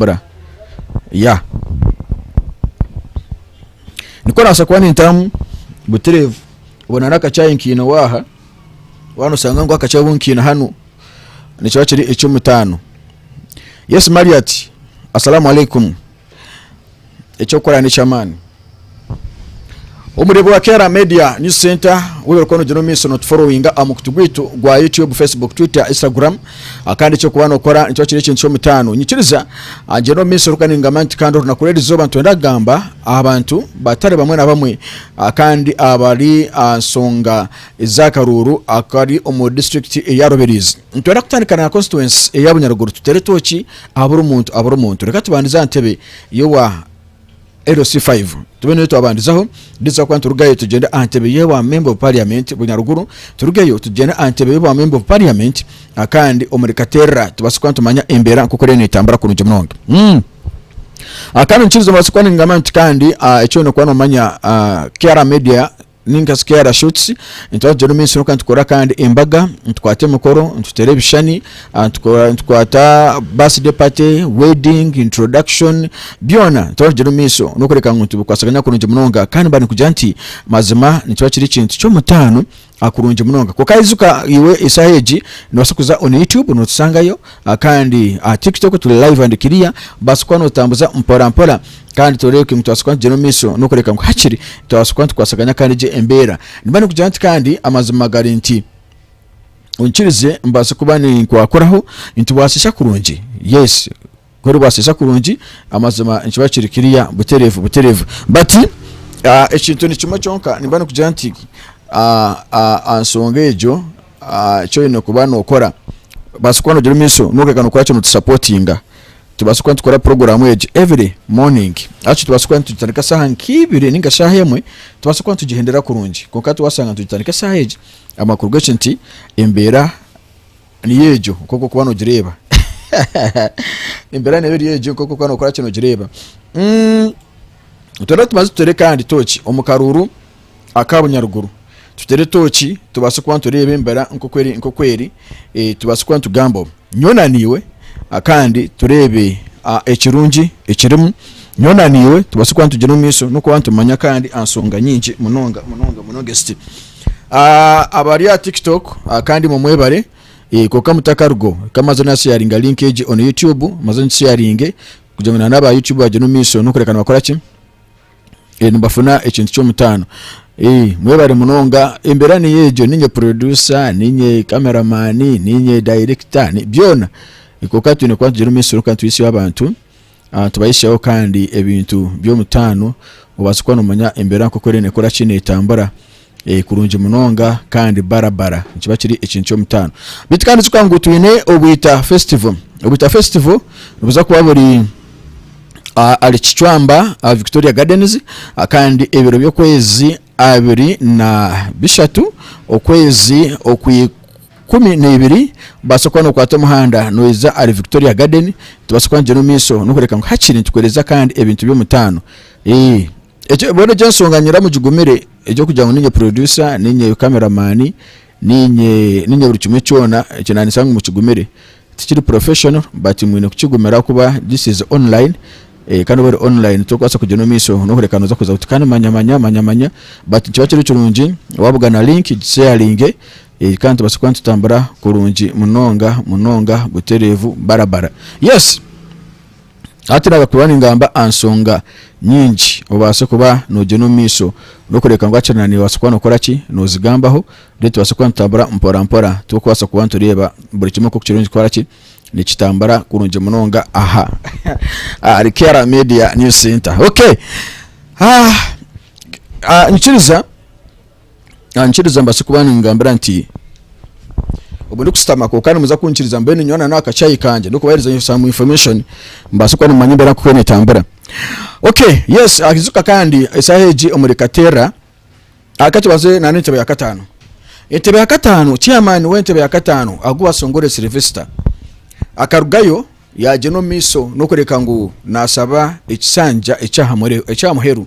kukora yeah nikwo orabaasa kuba nintaamu butureevu obwo nari akacaayi nkaine owa aha waaba noshanga ngu akacaayi obu nkaine hanu nikiba kiri eky'omutaano Yesu Mari ati Assalamu Alaikum Eky'okukora n'eky'amaani. Omureebi wa Kera Media News Centre ou orikuba noogira omu maisho nootuforowinga aha mukutu gwaitu gwa YouTube, Facebook, Twitter, Instagram. Ah, Kandi eky'okuba nookora nikiba kiri ekintu ky'omutaano. Nyikiriza ah, gye n'omu maisho kandi ningamba nti kandi orunaku rw'erizooba nitwenda kugamba aha bantu batari bamwe na bamwe ah, kandi abari aha nsonga z'akaruuru akari omu disiturikiti eya Rubirizi. Nitwenda kutandika na constituency eya Bunyaruguru tutere tooki aha buri muntu aha buri muntu. Reka tubandize aha ntebe Yowa LC 5 Tube niyo twabandizaho Nditsa kuba niturugayo tugyende aha ntebe y'obwa Member of Parliament Bunyaruguru Turugeyo tugyende aha ntebe y'obwa Member of Parliament Akandi omuri Katerra tubaase kuba nitumanya embeera nk'oku eriyo neetambura kurungi munonga Umm Akandi nikiriza omubaase kuba ningamba nti kandi ah, eky'oine kuba noomanya ah, KR Media ninga shi kera shots nitwategyera omu maisho kwonka nitukora kandi embaga nitukwata emikoro nituteera ebishushani ah, nitukora- nitukwata birthday party wedding introduction byona nitwategyera omu maisho n'okureka ngu nitubikwasaganya kurungi munonga kandi mba nikugira nti mazima nikiba kiri ekintu ky'omutaano ah, kurungi munonga kwonka ijuka iwe eshaaha egi noobaasa kuza on youtube nootusangayo Kandi aha kiri kityo ku turi live and clear, baasa kuba notambuza mpora mpora kandi toreebeka ngu nitubasa kuba nitugyera omu maisho nokureka ngu hakiri twabaasa kuba nitukwasaganya kandi egyo embeera nimba nikugira nti kandi amazima gari nti onkirize mbaase kuba ninkwakuraho nitubasisa kurungi yes ku oribasisa kurungi amazima nikiba kiri clear butereevu butereevu but ekintu nikimwe kyonka nimba nikugira nti aha nsonga egyo Eki oyine kuba nokora, obaasa kuba nogira omuisho kwonka okeega nokuba kyo notusapotinga, tubaasa kuba nitukora puroguramu egi every morning, actually tubaasa kuba nitugitandika saaha nkibiri ninga eshaaha emwe, tubaasa kuba nitugihendera kurungi kwonka twasanga nitugitandika esaaha egi amakuru gekyo nti embeera niyo egyo nkoku orikuba nogireeba embeera neeba eri egyo nkoku orikuba nokora kyo nogireeba, nitubaasa tuteere kandi tooki omu karuuru. aka bunyaruguru tutere etooki tubaase kuba nitureeba embira nk'oku eri tubaase kuba nitugamba omu nyowe na naiwe kandi tureebe ekirungi ekirimu nyowe na naiwe tubaase kuba nitugira omu maisho n'okuba nitumanya kandi aha nshonga nyingi munonga munonga munonga ezi ti abari aha tiktok kandi imwe mwebare kwonka mutakarugaho reka maze nasheyaringa link egi onu youtube maze ngisheyaringe kugira ngu na n'aba youtube bagire omu maisho n'okureka nibakora ki. eh, nibafuna ekintu ky'omutaano Eh, mwebare munonga embeera niyo egyo ninye producer ninye cameraman ninye director ni- byona Eh, kwonka twine kuba nitugire omu isuru kandi twitsye abantu ah, tubahisheho kandi ebintu by'omutaano obaase kuba nomanya embeera nk'oku eri nekora ki netambura Ee, kurungi munonga, kandi bara bara nikiba kiri ekintu ky'omutaano. Beitu kandi ijuka ngu twine Obwita Festival. Obwita Festival nibuza kuba buri ah, ahari Kicwamba aha Victoria Gardens, ah, kandi ebiro by'okwezi abiri na bishatu, okwezi okwa ikumi na ibiri, obaasa kuba nookwata omuhanda noija ahari Victoria Garden, nitubaasa kuba nitugyenda omu maisho n'okureeka ngu hakiri nitukuheereza kandi ebintu by'omutaano. Ee. Ekyo mbwenu egyo ensonga nyuramu gigumire egyokugira ngu ninye producer ninye camera man ninye ninye buri kimwe kyona ekyo nanyitsa ngu mukigumire tikiri professional but mwine kukigumira ahakuba this is online eh kandi obwori online tokubaasa kugyenda omumaiso nokureka noza kuza oti kandi manya manya manya manya but nikiba kiri kirungi wabuga na link gisharinge eh kandi tubaase kuba nitutambura kurungi munonga munonga buterevu barabara yes. Hati naabaasa kuba ningamba aha nshonga nyingi obaase kuba noogyenda omu maisho orikureebeka ngu hakiri nibaasa kuba nookora ki? Noozigambaho reero tubaase kuba nitutambura mporampora turikubaasa kuba nitureeba buri kimwe nk'oku kirungi kukora ki? Nikitambura kurungi munonga aha ahari Kera Media News Centre. Okay, Nikiriza. ankiriza mbaase kuba nimugambira nti, Obu ndikushutama kwonka nimuza kunkiriza mbwenu nyowe na n'aka chai kangye ndikubaheereza some information mbaase kuba nimumanya embeera nk'oku neetambura. Okay, yes ayijuka kandi eshaaha egi omuri Katerra ah ka tubanze naana entebe ya kataano. Entebe ya kataano, chairman w'entebe ya kataano agu baashoongorire Silvester akarugayo yaagyenda omu maisho n'okureeka ngu naashaba ekishanja eky'aha muheru.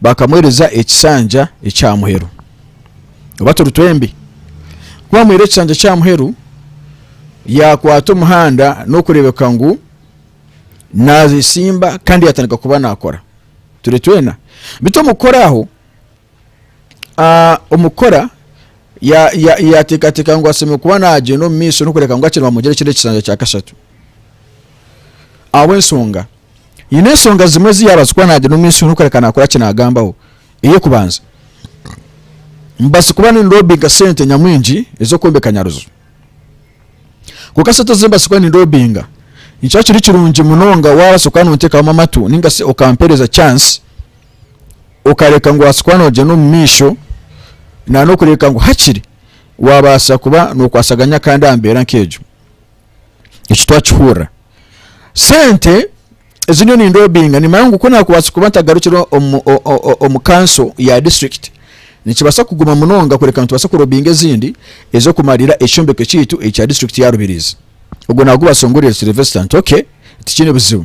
bakamuhereza ekisanja ekya muheru oba turi twembi ku bamuhaire ekisanja kya muheru yakwata omuhanda n'okureebeka ngu naatsimba kandi yatandika kuba naakora turi twena bitu omukukora aho omukukora yateekateeka ngu atsemire kuba naagyenda omu maisho n'okureebeka ngu akiri nibamugira ekindi ekisanja kya kashatu ahabw'enshonga Haine enshonga zimwe ezi yaabaasa kuba naagira omu maisho n'okureka naakora ki naagambaho. Ey'okubanza, mbaasa kuba nindoobinga sente nyamwingi ez'okwombeka Nyaruju. Kwonka sente ezi mbaasa kuba nindoobinga, nikikira kiri kirungi munonga waabaasa kuba noonteekamu amatu nainga shi okampeereza chance, okareka ngu obaase kuba noogyenda omu maisho nan'okureeba ngu hakiri waabaasa kuba nookwasaganya kandi aha mbeera nk'egyo. Eki twakihurira. Sente ezi nyowe nindobinga nimanya ngu kunakubaasa kuba ntagarukire omu omu kanso ya district nikibaasa kuguma munonga kureka ngu tubaase kurobinga ezindi ezokumarira ekyombeko ekyaitu ekya district ya Rubirizi. Ogwo nagubaasa ngu Sylvester nti okay tikiine buzibu.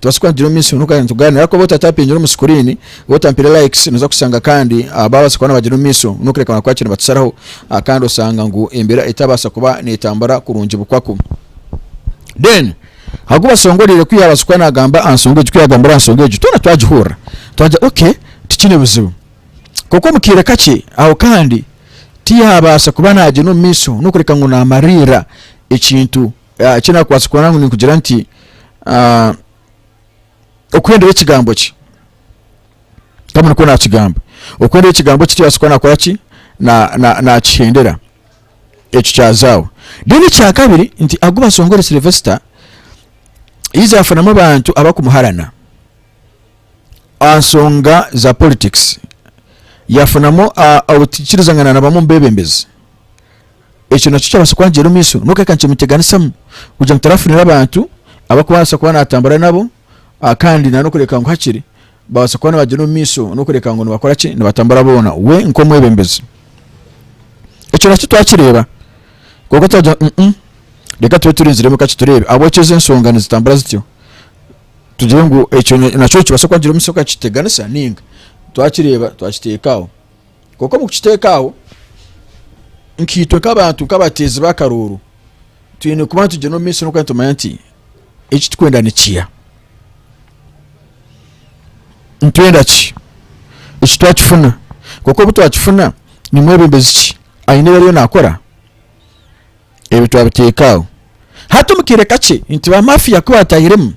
Tubaasa kuhagira omu maisho nitugaruka nitugaanira ariko waaba otaatapiingire omu sikuriini, waaba otampaire likes nooza kushanga kandi baabaasa kuba nibagira omu maisho n'okureeba ngu hakiri nibatusharaho kandi oshanga ngu embeera etabaasa kuba neetambura kurungi bukwaku. Then agu bashongoriire ku yaabaasa kuba naagamba aha nshonga egi, ku yaagambire aha nshonga egi twena twagihurira twagira okay tikiine buzibu. Kwonka omu kaire kakye aho kandi tiyaabaasa kuba naagyenda omu maisho n'okureka ngu naamariirira ekintu. ah, eki nakubaasa kubona ngu ninkugira nti ah, okuhendera ekigambo kye kama nikwo nakigamba okuhendera ekigambo kye tibaasa kuba nakora ki Na- na- nakihendera ekyo kyazaaho then ekyakabiri nti agu basongore silvester yiza yafunamu abantu abakumuharana aha nsonga za politics yafunamu ah, obutikirizangana na bamwe omu bebembezi Ekyo nakyo kyabaasa kwangyera omu maisho. N'okureeba reka nkyeteganisamu kugira ngu tarafunire abantu abu arikubaasa kuba naatambura nabo kandi n'okureeba ngu hakiri baabaasa kuba nibagyenda omu maisho n'okureeba ngu nibakora ki, nibatambura boona we nk'omwebembezi. Ekyo nakyo twakireeba kwonka twagira ngu reka tube turinziremu kakye tureebe ahabw'okugira ngu ensonga nizitambura zityo. Tugire ngu ekyo nakyo nikibaasa kwangyera omu maisho okaakyeteganisa nainga? Twakireeba twakiteeka aho. Kwonka omu kukiteekaho, nkaitwe nk'abantu nk'abateezi b'akaruuru twine kuba nitugyenda omu maisho n'okuba nitumanya nti eki turikwenda nikiha nitwenda ki eki twakifuna kwonka obu twakifuna ni mwebembezi ki aine ebi ariyo naakora Ebi twabiteeka aho hati omu kaire kakye nti ba mafiya ku baataahiremu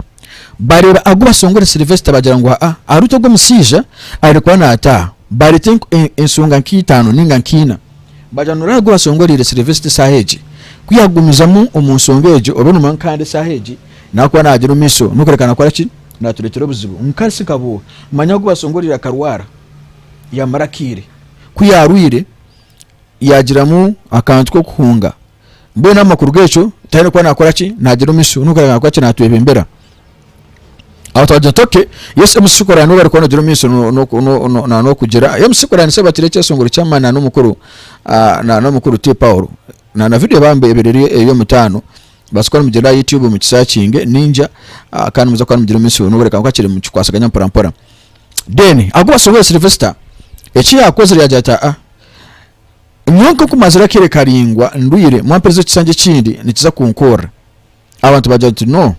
baareeba agu basongore Sylvester baagira ngu haa ahari ogu omushaija abaire kuba naataaha baareeta enshonga nk'eitaano nainga nk'eina baagira ngu nooreeba agu basongoreire Sylvester eshaaha egi ku yaagumizamu omu nshonga egi obe noomanya ngu kandi eshaaha egi naakuba naagyera omu maisho n'okureeka naakora ki naatureetera obuzibu nka shi nkabuuha manya agu basongoreire akarwara yaamara akaire ku yaarwaire yagiramu akantu k'okuhunga mbwenu amakuru g'ekyo tihine kuba nakora ki nagira omisho nukora nakora ki natwebembera aho twagira toke yesu emusikorana n'obu arikuba nagira omisho n'okugira emusikorana se batire ekyesongoro ky'amani na n'omukuru ah, na n'omukuru ti paulo na na video bambe ebiriri eyo mutano basikora mugira youtube mu kisakinge ninja ah, kandi muza kuba mugira omisho n'obu reka nkakire mukikwasaganya mpora mpora Then agu bashoboye Sylvester eki yakozire yagira ati aa nyowe nkoku mazire akeire karingwa ndwire mwamperize ekishangye ekindi nikiza kunkorera abantu bagira ati no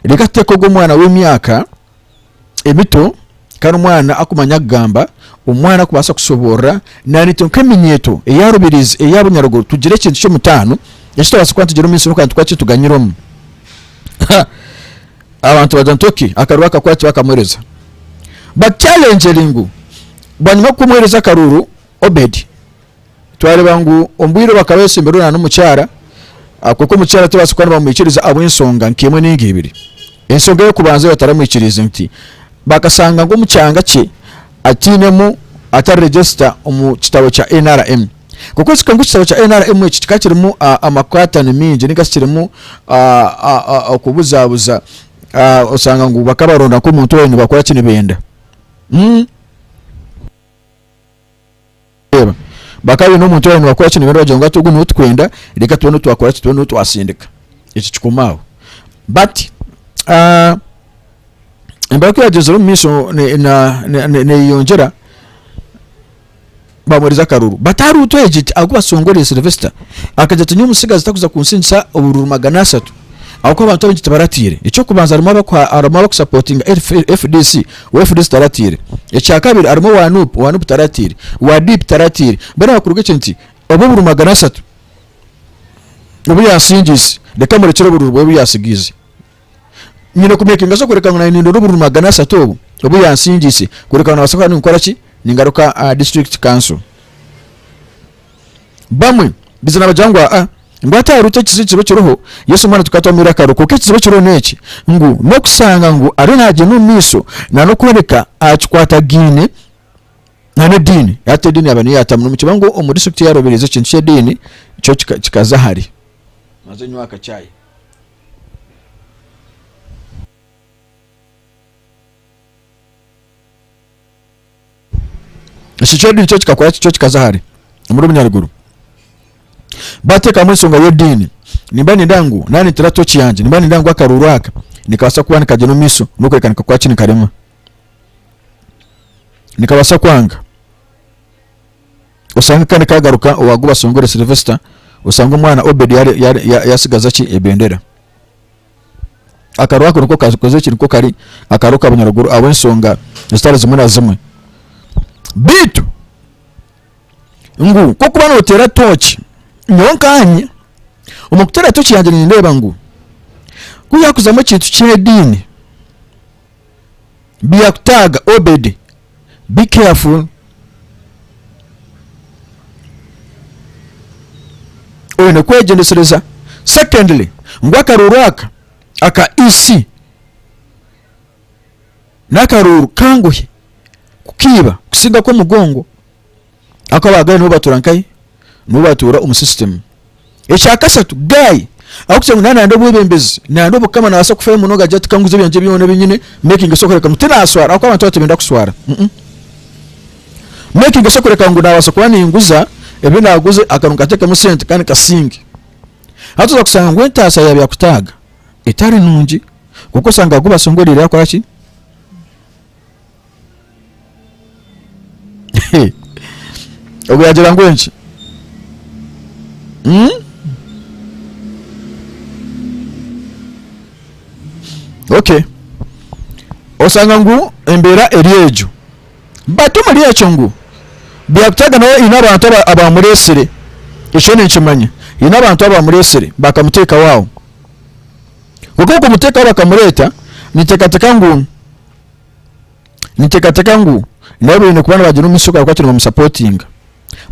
reka tuteeke ogu omwana w'emyaka emito kandi omwana akumanya kugamba omwana akubasa kushoborora nari itwe nk'eminyeto eya Rubirizi eya Bunyaruguru tugire ekintu ky'omutaano eki tubasa kuba nitugire omu ishomo kandi tukaba kituganyire omu ha Abantu bagira nti ok akaruuru akakuba tibakamuhereza but kyalengyeri ngu bwanyima kukumuhereza akaruuru Obedi twareeba ngu omubwire obwakaba yatsembireho nana omukyara ahakuba omukyara tibabaasa kuba nibamwikiriza ahabw'ensonga nka emwe ninga ibiri ensonga eyokubanza eyibataramwikiriize nti bakasanga ngu omukyanga kye atinemu atari register omu kitabo kya nrm. Nk'okworeka ngu ekitabo kya NRM eki kikaba kirimu amakwaatano maingi ninga shi kirimu okubuzaabuza, oshanga ngu bakaba nibaronda nk'omuntu owaabaire nibakora ki nibenda. Reeba, bakaba baine omuntu owaabaire nibakora ki nibenda baagira ngu hati ogu niwe turikwenda, reka tube niwe twakora ki, tube niwe twatsindika. Eki kikoma aho. But embara ku yaagyenzire omu maisho neeyeyongyera. bamuherize akaruru bataruutu egye gye ahakuba asongorire Sylvester akagira ati nyowe omutsigazi takuza kunsingisa obururu magana asatu ahakuba abantu abaingi tibaratiire eky'okubanza harimu abakuha harimu abakusapotinga FDC owa FDC taratiire ekyakabiri harimu owa nup owa nup taratiire owa DP taratiire mbwenu ahakuruga ekyo nti obu obururu magana asatu obu yasingiise reka murekyere obururu bwe obu yasigiize nyine kumekinga sure kureka ngu naanye nindora obururu magana asatu obu obu yansingiise kureka ngu nabaasa kuba ninkora ki ningaruka aha district council bamwe biza nabagira ngu aa ngu hati ahari eki ekizibu kiriho kiriho yesu omwana tukaba twamwire akaro kwonka ekizibu ekiriho n'eki ngu n'okusanga ngu ariyo nagyenda omu maisho na n'okureebeka akikwatagaine na n'ediini hati ediini yaba niyo yaatamu nimukiba ngu omu district yarobereize ekintu ky'ediini kyo kika- kikaza ahari maze nywa akachai Ekicweka ekyo nikyo kikakora kityo kikaza hare omuri omunyaruguru bateekamu ensonga y'ediini nimba ninda ngu naba nintera tooki yangye nimba ninda ngu akaruuru aka nikabaasa kuba nikagyenda omu maisho n'okworeka nikakora ki nikarema nikabaasa kwanga oshange kandi kagaruka owagu basongore Sylvester oshange omwana Obed yatsigaza ki ebendera. Akaro ako niko kakoze ki niko kari akaro ka bunyaruguru ahabw'ensonga ezitari zimwe na zimwe beitu ngu kokuba notera toki nyowe nkanye omu kutera toki yangye nindeba ngu ku yakuzamu ekintu ky'ediini biyakutaga Obed. be careful oyine kwegyendesereza secondly ngu akaruuru aka aka EC nakaruuru kanguhi kukiiba kusinga akomugongo. Ahakuba ba guy nibo batuura nkahi? Nibo batuura omu system. Ekya kasatu guy ahabw'okugira ngu naaba nande obwebembezi, nande obukama naabaasa kufayo munonga agira ati kanguze ebyangye byona ebi nyine making sure kureka ngu tinaashwara ahakuba abantu abandi tibenda kushwara. Making sure kureka ngu naabaasa kuba ninguza ebi naaguze akaba nkateekamu sente kandi nkasinge. Hati oza kushanga ngu entaasya ya byakutaaga etari nungi kwonka oshanga Guy Basingye oriire akora ki? He. ogu yagira ngu enki Hmm? okay osanga ngu embeera eri egyo but omuri ekyo ngu byakutaaga nawe haine abantu aba- abamureetsire ekyo ninkimanya haine abantu abamureetsire bakamuteekaho aho kwonka okumuteekaho bakamureeta ninteekateeka ngu Ninteekateeka ngu nabo baine kuba nibagira omumaisho gaabo kuba nibamusapotinga.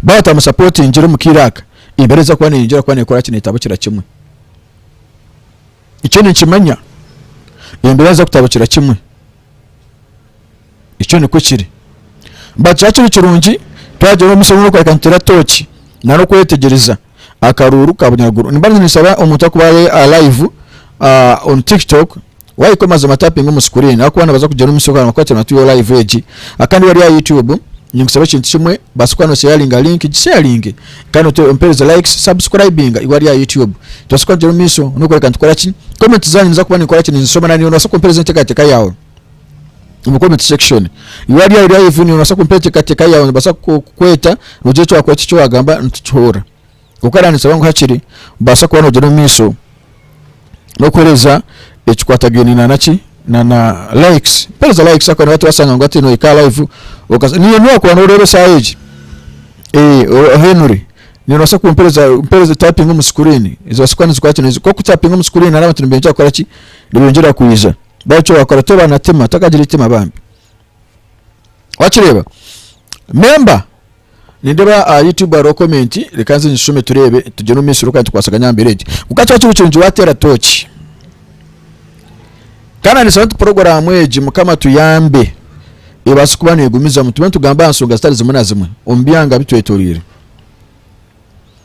Baaba batamusapotingire omu kaire aka, embeera eriza kuba neyeyongyera kuba nekora ki? Netabukira kimwe. Ekyo ninkimanya, embeera niza kutabukira kimwe. Ekyo nikwo kiri. But kikaba kiri kirungi twagira omumaisho g'okureeba ngu nituteera tooki nari okwetegyereza akaruuru ka bunyaruguru nimba ninsaba omuntu akuba ari alive uh, on tiktok wayika omazima tapping omu screen ahakuba nabaza kugira omusi okaranga kuba kiri tuyo live egi akandi wari aha youtube ninkusaba ekintu kimwe basa kuba nosheyaringa link gisheyaringe kandi ompereze likes subscribing iwe ari aha youtube tubasa kuba nigira omu maisho nokoreka nitukora ki comment zanyu niza kuba ninkora ki ninzishoma nani nibasa kumpereza enteekateeka yawe omu comment section iwe ari aho live noobaasa kumpa enteekateeka yaawe nibaasa kukweta ogire eki wakweta eki waagamba nitukihuurira kwonka naanisaba ngu hakiri obaasa kuba noogyenda omu maisho n'okuheereza ekikwatagaine na naki na na likes mpereza likes akuba nabati basanga ngu hati nohika aha live okaza niyo niyo wakuba nooreeba esaaha egi eh, ohenure noobaasa kumpereza mpereza typing omu screen zibaasa kuba nizikwata kwonka ku typing omu screen hariho abantu nibeegyera kukora ki nibeegyera kwija Baitu wakora toba na tima, takagira itima bambi. Wakireeba? Memba, nindeeba aha YouTube hariho comment, reka nze ngishome tureebe, tugyende omu maisho reka nitukwasaganye aha mbeera egyo. Kwonka kikaba kiri kirungi waateera tooki. Kandi na nitushaba nti puroguraamu egi Mukama atuyambe ebaase kuba neegumizamu, tube nitugamba aha nsonga zitari zimwe na zimwe omu byanga bitwetoroire.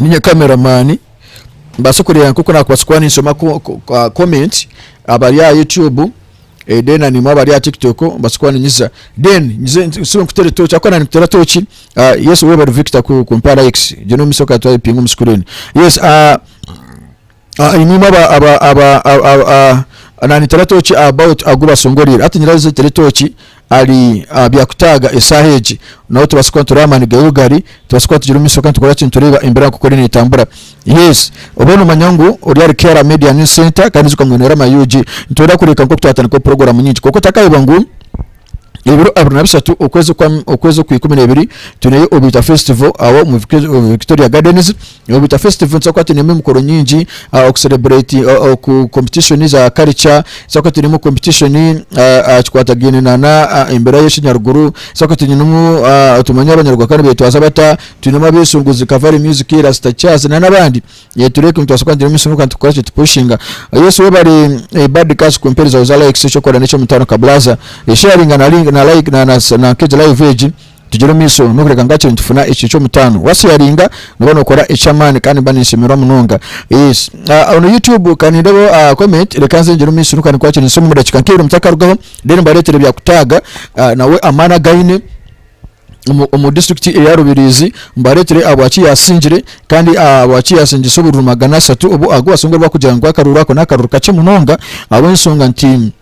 ninye camera man mbaase kureeba nkoku nakubaasa kuba ninsoma ko ko ka comment abari aha YouTube eh then nimwo abari aha TikTok mbaase kuba ninyiza then nyize nsibe nkutere tooki ahakuba naaba nikuteera tooki ah yes webare Victor ku kumpa likes gye n'omutsyo ka twayipinga omu screen yes ah Ah, imwe imwe aba aba aba aba- aba- ah, nanyitera tooki about agu basongoriire hati nyirazo azitere tooki ari ah, byakutaaga esaaha egi nawe tubaase kuba nitureeba amaani gaiwe gari tubaase kuba tugire omu maisho kandi tukora ki nitureeba embeera nk'oku eri netambura yes obe nomanya ngu ori ahari KRA media news center kandi ijuka ngu nyowe na Rama Eugene nitwenda kureka nk'oku twatandikaho program nyingi kwonka otakayeba ngu ebiro abiri na bishatu okwezi kwa okwezi okwa ikumi nebiri twineyo obwita festival aho omu Vic- omu victoria gardens obwita festival nituza kuba twinemu emikoro nyingi ah, okucelebrate ah, oku competition za culture tuza kuba twinemu competition ah, ah, kikwatagaine na na ah, embeera y'ekinyaruguru tuza kuba twinemu ah, tumanye abanyaruguru bakaba nibetwaza bata twinemu abesunguzi kavari music rasta jazz na n'abandi Ee turi ekyo nitubaasa kuba nituri omu isomero kandi tukakora ekyo tupushinga. Yesu webare eh, bad kazi kumpereza oza likes ekyokora nekyo mutano kablaza eh, sharinga na link na like na na na kegi live egi tugire omumiso nokureka ngu hakiri nitufuna ekyo ekyomutano wa sharinga noba nokora ekyamani kandi nimba ninshemerwa munonga yes ah, ono YouTube kanindebeho ah, comment reka nze ngire omumiso nokuba ninkora kiri nsumi omudakika nkibiri mutakarugaho then mbaretera ebya kutaga ah, nawe amani againe. omu disiturikiti eya Rubirizi mbareetire ahabwaki yaasingire kandi ahabwaki yaasingisa obururu magana ashatu obu ahakubaasa ngu barikugira ngu akaruru ako n'akaruru kakye munonga ahabw'enshonga nti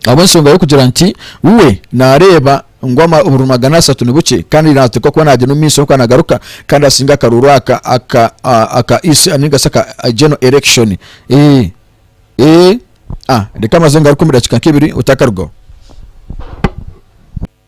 ahabw'enshonga y'okugira nti we naareeba ngu obururu magana ashatu ni bukye kandi naateekwa kuba naagira omu maisho kwonka naagaruka kandi asinga akaruru aka aka aka isi ninga shi aka general election eh, eh, ah, reka maze ngaruke omu dakiika nk'ebiri otakarugaho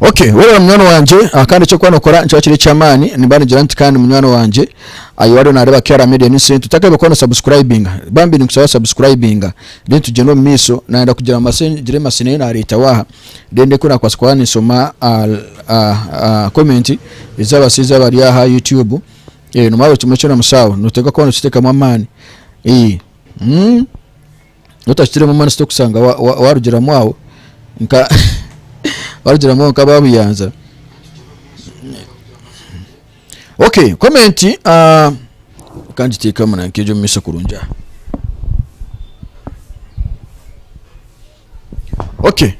Ok weena munywani wangye ah, kandi ekyokuba nokora nikiba kiri ekyamaani nimba nigira nti kandi munywani wangye ayi wariyo nareeba KR media news center otakabaire kora no subscribinga bambi ninkusaba subscribinga then tugyende omu maiso nayenda kugira mase ngire mase nayo nareetaho aha then ndeke nakubaasa kuba ninsoma ah, ah, ah, comment ezabashaija abari aha YouTube eh, nomanya buri kimwe kyona musaho noteekwa kuba nokiteekamu amaani eh, mm. Ngu otashutiremu amanisho okushanga warugiramu aho nka warugiramu aho nk'ababuyanza okay comment ah, kangiteekamu na nk'egyo omu maisho kurungi aha okay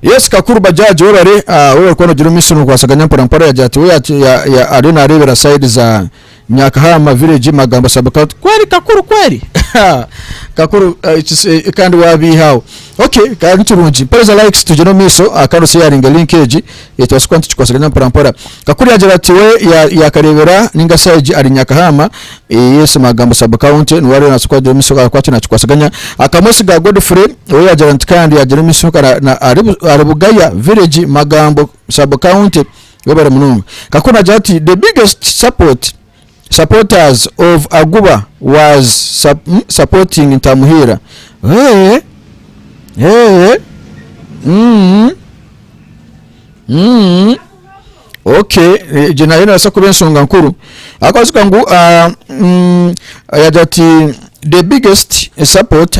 yes kakuru bajaji webare ah, webare kuba nogira omu maisho nokwasaganya mpora mpora yagira ati we ya- ya- ya- ariyo nareebera side za Nyakahama village magambo sub county kweli kakuru kweli kakuru eh, kandi wabiiha aho okay kandi nikirungi mpereza likes tugyere omu maiso ah, kandi osheyaringe link egi ekibasa kuba nitukikwatsagana mporampora kakuru yagira ati we yakareebera ninga side ari nyakahama eh, yes magambo sub county niwe ariyo nasoboka kugira omu maiso ahakuba ati nakikwatsaganya akamosi ga godfrey we yagira nti kandi yagira omu maiso ari bugaya village magambo sub county webare munonga kakuba nagira ati the biggest support supporters of aguba was sup, mm, supporting ntamuhiira hey, hey, mm, mm. okay egyo nayo nebaasa kuba ensonga nkuru akabaziga ngu ah, mm, yagira ati the biggest support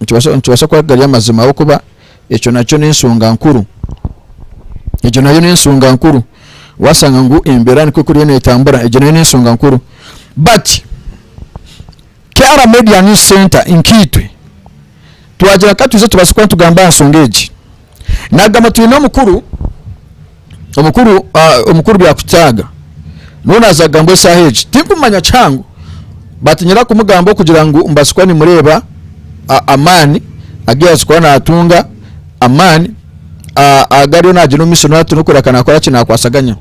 Nikibaasa nikibaasa kuba gari amazima ahabw'okuba ekyo nakyo n'ensonga nkuru. Egyo nayo n'ensonga nkuru. Waasanga ngu embeera nikwo ekuriyo neetambura, egyo nayo n'ensonga nkuru. But KR Media News Centre nkaitwe twagira ka twije tubaase kuba nitugamba aha nsonga egi, Nagamba twine omukuru omukuru uh, omukuru byakutaaga nuu naaza kugamba esaaha egi tinkumanya kihango batinyira kumugamba okugira ngu mbazi kuba nimureeba amaani agu yaazi kuba naatunga amaani agariyo naagira omu maisho nati nokureeka naakora ki naakwasaganya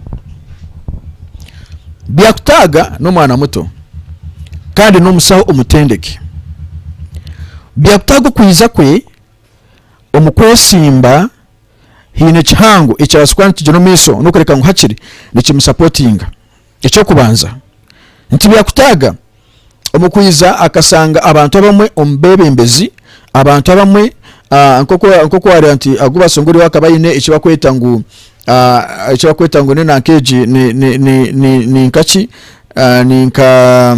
byakutaaga n'omwana muto kandi n'omusaho omutendeke byakutaaga okwiza kwe Omu kwesimba haine ekihango ekirabaasa kuba nikigyera omu maisho n'okureeka ngu hakiri nikimusapotinga. Eky'okubanza, nikibyakutaaga omu kwija akashanga abantu abamwe omu beebembezi, abantu abamwe nk'oku waareeba nti agu bashonga oriya akaba aine eki bakweta ngu eki bakweta ngu ni nanka egi ni nkaki ni nka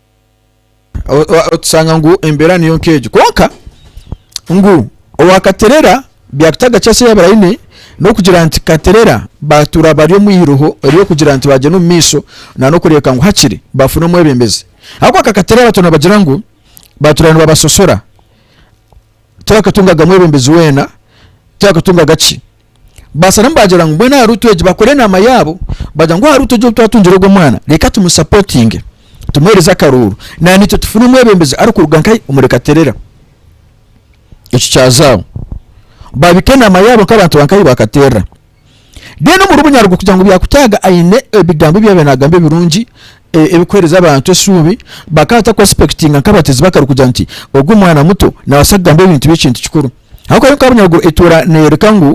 otusanga ngu embeera niyo nk'egyo kwonka ngu owakaterera byakutaga kyasa yabura aine n'okugira nti katerera batuura bari omu iroho ery'okugira nti bagyenda omu maisho na n'okureebeka ngu hakiri bafuna omwebembezi ahabw'okuba kakaterera batona bagira ngu batuura nibabasosora Tibakatungaga mwebembezi weena, tibakatungaga ki. Baasa n'abamu baagira ngu mbwenu ahari itwe egi bakora enaama yaabo, baagira ngu ahari itwe egi obu twatungire ogwo mwana, reeka tumusapotinge, tumuheereze akaruuru, naaniitwe tufune omwebembezi arikuruga nka hi? Omuri Katerera. Ekyo kyazaaho, baabika enaama yaabo nk'abantu ba nka hi? Ba Katerera. Mbwenu omuri Bunyaruguru kugira ngu byakutaaga aine ebigambo ebi yaabaire naagamba ebirungi e- ebikuheereza abantu esuubi, bakaba bata kuexpectinga nk'abatezi b'akaru kugira nti ogu omwana muto naabaasa kugamba ebintu by'ekintu kikuru. Ahabw'okuba yo nka Bunyaruguru etuura neeyoreka ngu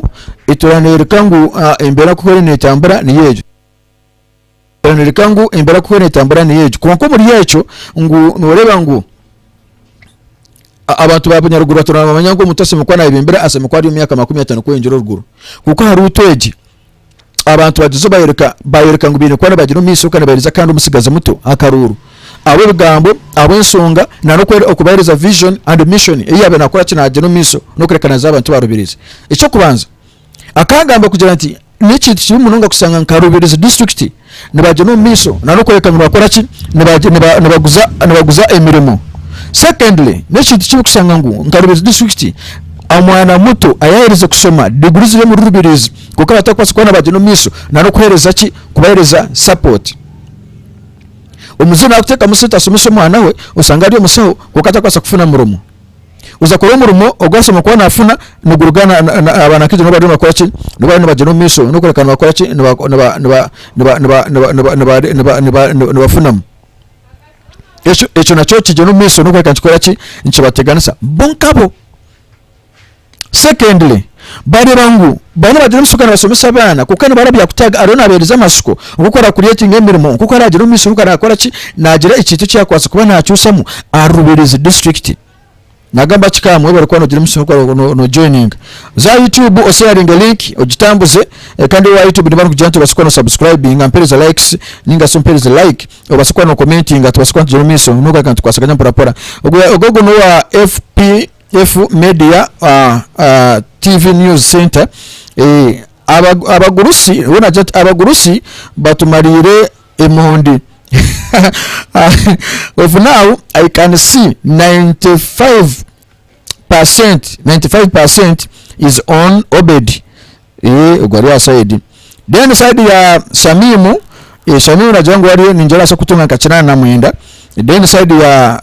etuura neeyoreka ngu ah, embeera nk'oku eriyo neetambura niyo egyo. Kiranoreka ngu embera kuhwera etambura niyo egyo. Kwonka omuri ekyo ngu noreeba ngu abantu ba bunyaruguru batura nibamanya ngu omuntu asemeriire kuba nayeba embera asemeriire kuba ari omu myaka makumi atano kweyongyera oruguru. Kwonka aha ruutu egi abantu bagyezo bayoreka bayoreka ngu baine kuba nibagira omu maisho kandi nibaheereza kandi omutsigazi muto akaruuru ahabw'ebigambo ahabw'enshonga na n'okubahereza vision and mission ei yaabaire naakora ki naagira omu maisho n'okurekananiza abantu barubirizi. Eky'okubanza. Akangamba kugira nti n'ekintu kibi munonga kushanga nka Rubirizi District nibagyenda omu maiso nana okworeka ngu nibakora ki nibaguza nibaguza emirimo. Secondly n'ekintu kibi kushanga ngu nka Rubirizi District omwana muto ayaherize kushoma diguri ziri omuri Rubirizi kwonka batarikubaasa kuba nibagyenda omu maiso nana okuhereza ki kubahereza support. Omuzaire nakuteekamu sente ashomese omwana we oshange ari omushaho kwonka atari kubaasa kufuna murimo. Oza kukora omurimo ogu ashemereire kuba nafuna niguruga aba na Kristo nibaba bariyo nibagyenda omu maisho nokureebeka nibafunamu. Ekyo nakyo nikigyenda omu maisho nikyoreka nikibakora ki? Nikibateganisa bo nkabo. Secondly, bareba ngu baba nibagira omu siko nibasomesa abaana kwonka nibara byakutaaga ariho nabahereza amasiko nk'oku aracreatinga emirimo, nk'oku aragira omu maisho nk'oku arakora ki nagira ekintu eki yakwatsire kuba nacusamu aha Rubirizi district. Nagamba ki ka mwebare kuba nogira emisyo nk'oku no joininga za YouTube osharinge link ogitambuze kandi owa YouTube niba arikugira nti obaase kuba no subscribinga mpereza likes ninga shi ompereze like obaase kuba no commentinga tubaase kuba nitugyera omu maisho n'okugaruka nitukwasaganya mpora mpora. Ogwo ogwo n'owa FP. Efu Media TV News Centre, Abagurusi Abagurusi batumariire emondi Of now I can see 95 percent 95 percent is on Obed Ogwo ari aha side Then side ya Shamimu Shamimu nagira ngu ningira ngu naabaasa kutunga nka kinaana na mwenda Then side ya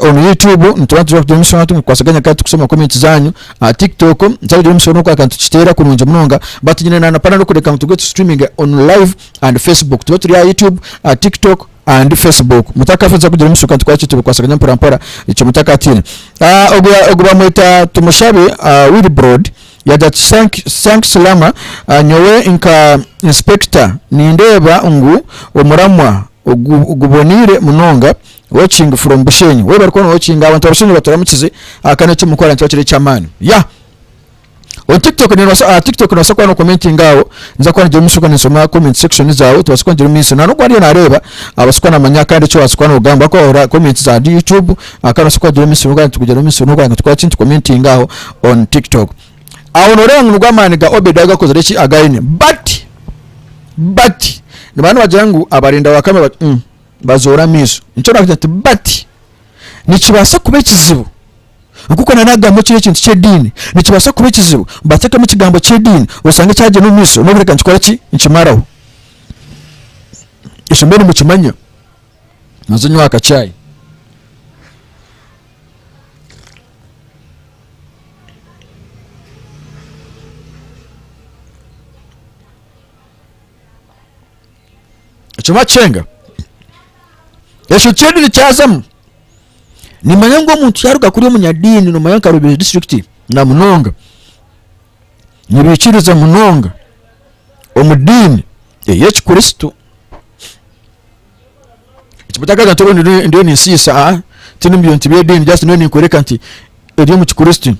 omu YouTube nituba nituza kugira omushana tumukukwasa akanya katu kusoma comment zanyu aha TikTok tuza kugira omushana oku akantu tukiteera kurungi munonga but nyine na napana n'okureka ngu tube tu streaming on live and Facebook tube turi aha YouTube aha TikTok and Facebook mutaka afe tuza kugira omushana oku akantu twaki tubikwasa akanya mpora mpora ekyo mutaka atiine ogu ogu bamweta tumushabe Wilbrod. Yagira ati, Thanks Lama. Nyowe nka Inspector nindeeba ngu omuramwa guboneire munonga. Watching from Bushenyi. Webare kuba nowatchinga. Abantu ba Bushenyi baturamukize. Kandi eki mukora nikibakira ekyamaani. Yah! On tiktok nibasa aha tiktok nibasa kuba no commenting aho ninza kuba nigira omuisho ninsoma comment section zawe tubase kuba nigira omuisho nanogu ariyo nareeba abase kuba namanya kandi eki wabase kuba nogamba ahakuba orora comment za youtube. Aho noshusha kugira emisiri nokugira nti kugira emisiri nokugira ngu tukore ki nitukomentinga aho on tiktok. Aho noreeba ngu nigo amaani ga Obedi agakozire ki againe but but nibaba nibagira ngu abarinda wakame ba umm bazoora amaiso nikyo nagira nti but nikibaasa kuba ekizibu nkoku nari nagamba ekiri ekintu ky'ediini nikibaasa kuba ekizibu bateekemu ekigambo ky'ediini oshange kyagyenda omu maisho nobu reka nkikore ki nkimaraho. Ishomero nimukimanya. noza onywa ka chai ekyo bakyenga ekyo kyedi nikyazamu nimanya ngu omuntu yaruga kuri omunyadiini nomanya nka rubiri district na munonga nibikiriza munonga omu diini eyekikristo ndiyo ninsiisa a tiri omu bintu by'ediini just ndiyo ninkworeka nti eri omu kikristo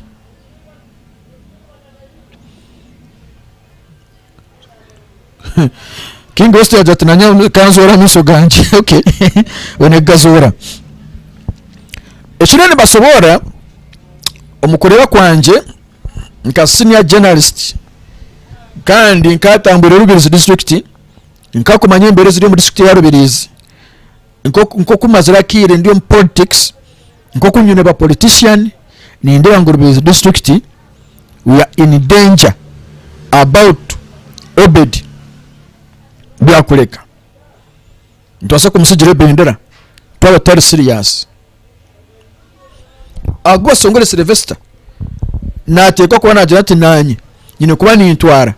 King West yagira ati nanye kanzoora amaisho gangye okay one kugazoora ekiriyo nibasoborora omu kureeba kwangye nka senior journalist kandi nkatambwire Rubirizi district Nka kumanya embeera eziri omu district ya Rubirizi, nkoku mazire akaire ndi omu politics, nkoku nyine ba politician, nindeeba ngu Rubirizi district we are in danger about Obed Byakureka. Nitubaasa kumutsigira ebendera twaba tutari serious. Ahaku Basongore Sylvester nateekwa kuba nagira ati naanye nyine kuba nintwara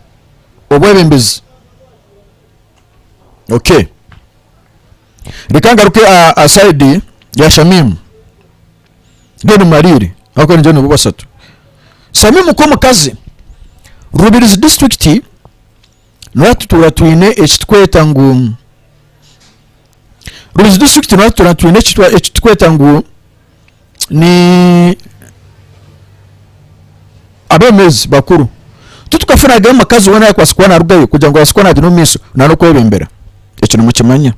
obwebembezi. Okay. Reka ngaruke aha aha side ya Shamim. Then mmalire ahabw'okuba ningira nibo bashatu. Shamim nk'omukazi, Rubirizi district, nituba twine ekitweta ngu Rundi district nabwo tura twine eki twa- eki tukweta ngu ni abemezi bakuru tutukafunagayo omukazi wena ayakwatsire kuba narugayo kugira ngu abaase kuba nagyenda omu maiso nari okwebembera ekyo nimukimanya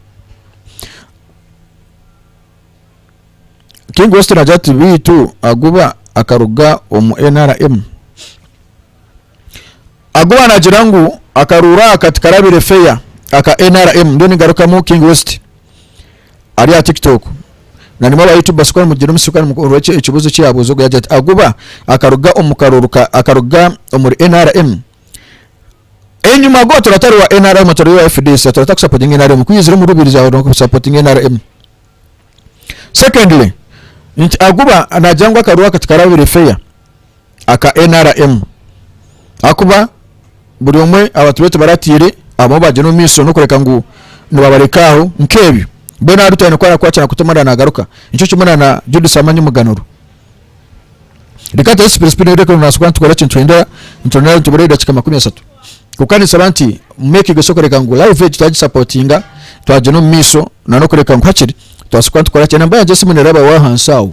King West nagira ati beitu aguba akaruga omu nrm Ahakuba naagira ngu akaruuru aka tikarabire feya aka nrm ndiyo ningarukamu King West ari aha tiktok na nimwe aba YouTubers ku nimugira omutsyo kandi mukuhurira eki ekibuuzo eki yaabuuza ogwo yaagira ati ahakuba akaruga omu karuuru ka akaruga omuri nrm enyuma go tura tari wa nrm turi wa FDC tura takusapotinga nrm ku yaizire omu Rubirizi aho no kusapotinga nrm secondly nti ahakuba naagira ngu akaruuru aka tikarabire feya aka nrm ahakuba buri omwe abantu beitu baratiire abamwe bagyenda omu maisho n'okureka ngu nibabareka aho nk'ebyo mbwenu aha Rutaine ku arakwatira na Kutemara naagaruka nikyo kimwe na Judith Amanyi Muganuro reka ntare sipiri sipiri reka ngu naashuka nitukora eki nituhendera nituronda nitubura edakiika makumi ashatu kwonka ninsaba nti make gesho kureka ngu live egi twagisapotinga twagyenda omu maisho na n'okureka ngu hakiri twaashuka nitukora ki enamba yangye y'esimu neeraba waahansi aho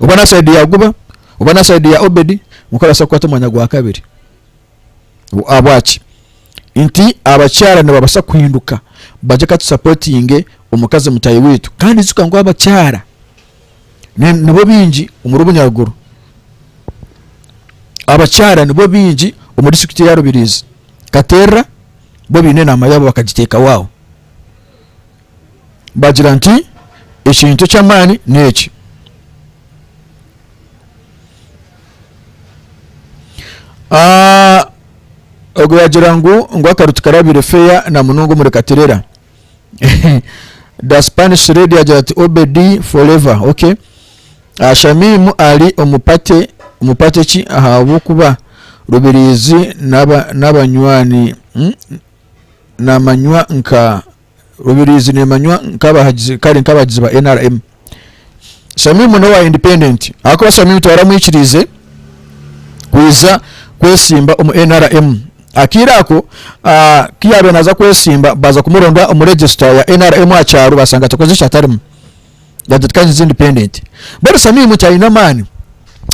oba n'aha saidi ya Guba oba n'aha saidi ya Obedi, kwonka arabaasa kukwata omwanya gwa kabiri. Ahabwaki? Nti abakyara nibabaasa kuhinduka bagye ka tusapotinge omukazi mutahi waitu. Kandi ijuka ngu abakyara nibo baingi omuri obunyaruguru, abakyara nibo baingi omuri disiturikiti ya Rubirizi. Katerera bo baine enaama yaabo bakagiteekaho aho. bagira nti, Ekintu eky'amaani n'eki. Ah, ogwo yagira ngu ngu akaru tikarabire feya na munonga omuri katerera the spanish lady yagira ati obedi forever okay Ah, shamimu ari omupate omupate ki ahabw'okuba rubirizi n'aba- n'abanywani mm, namanywa nka Rubirizi neemanywa nk'abahagizi kare nk'abahagizi ba nrm. Shamimu n'owa Independent ahakuba Shamimu tibaramwikiriize kwija kwesimba omu nrm. Akaire ako ah, ku yaabaire naaza kwesimba baaza kumuronda omu regisita ya nrm aha kyaro baasanga atakoze ekyatarimu yatetekanyiza Independent. Mbwenu Shamimu tihaine amaani